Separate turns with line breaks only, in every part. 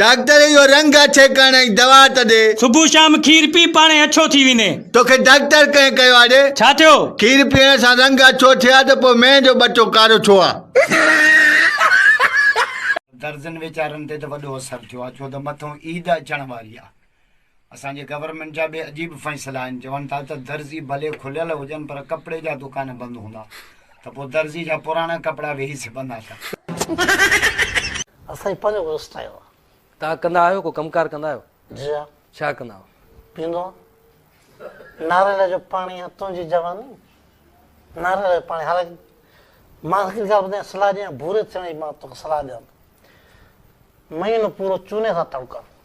Doctor اهو رنگ اڇي ڪرڻ ۽ دوا ته ڏي. صبح شام کير پي
پاڻهي اڇو ٿي ويندين. توکي ڊاڪٽر
ڪنهن ڪيو آ ڙي؟ ڇا ٿيو؟ کير
پيئڻ سان
رنگ اڇو ٿئي ها ته پوء مينهن جو ٻٽو ڪارو ڇو آ؟
درزن ويچارن تي ته وڏو اثر ٿيو آ ڇو ته مٿون عيد اچڻ واري آ. اسان جي گورنمينٽ جا به عجيب فيصلا آهن چون ٿا ته درزي ڀلي کليل هجن پر ڪپڙي جا دڪان بند هوندا ته پوء درزي جا پراڻا ڪپڙا ويهي سبندا ڪا. اسان
جي پنهنجو ڪو اسٽائل آهي. توهان ڪندا آهيو
ڪو ڪم ڪار ڪندا آهيو. جي ها. ڇا
ڪندا آهيو.
پيئندو آهيان
ناريل جو پاڻي ها تنهنجي جواني ناريل جو پاڻي حالانڪه مان هڪڙي ڳالهه ٻڌايان صلاح ڏيان ڀوري ٿيڻ جي مان توکي صلاح ڏيان ٿو مهينو پورو چوني سان ٽڙڪان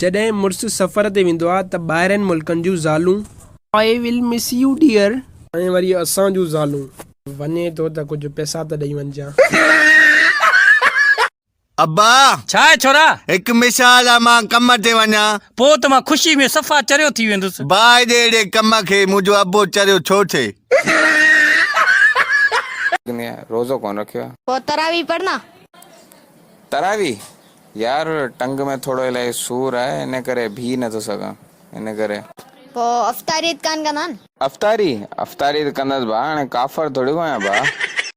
جڏهن
مڙس سفر تي ويندو آ ته ٻاهرين ملڪن جون زالون. I will miss you dear. ۽ وري اسان جون زالون. وڃين ٿو ته ڪجهه پيسا ته ڏئي وڃجان.
ابا! ڇا آهي ڇورا؟
هڪ مثال آ
مان ڪم تي وڃان. پوء ته مان خوشي
۾ صفا چريو ٿي ويندس. باء ڙي اهڙي ڪم
کي منهنجو ابو چريو ڇو ٿئي.
روزو ڪونه رکيو آ. پوء تراويح پڙهنا. تراويح يار ٽنگ ۾ ٿورو الائي سور آهي ان ڪري بيهي نٿو سگهان ان ڪري. پوء افطاري
ته ڪانه
ڪندا نه. افطاري
افطاري
ته ڪندس ڀا
هاڻي
ڪافر ٿوري ڪون آهيان
ڀا.